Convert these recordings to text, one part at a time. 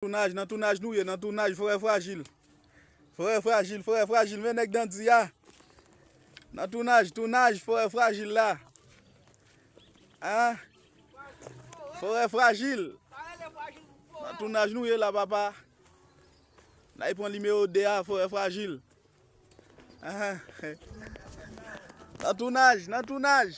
Tounaj nan tounaj nou ye nan tounaj frè frajil frè frajil frè frajil men nèg dandi a nan tounaj tounaj frè frajil la an frè frajil nan tounaj nou ye la papa na y pran nimewo 2 a frè frajil an nan tounaj nan tounaj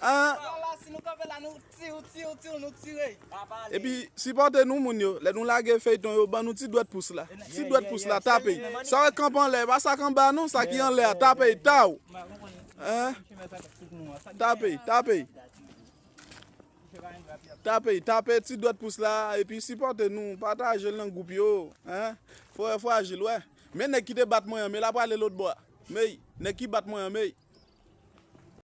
Lala si nou kanpe la nou tiw tiw tiw nou tire. Epi sipòte nou moun yo lè nou lage feyton yo ban nou ti dwèt pous la ti dwèt pous la tape sa wè kanp anlè pa sa k anba non sa ki anlè a tape taw tape tape tape tape ti dwèt pous la epi sipòte nou patajel nan gwoup yo frè frajil wè men nèg ki te bat mwen an me la prale lotbò a meyy nèg ki bat mwen an meyy.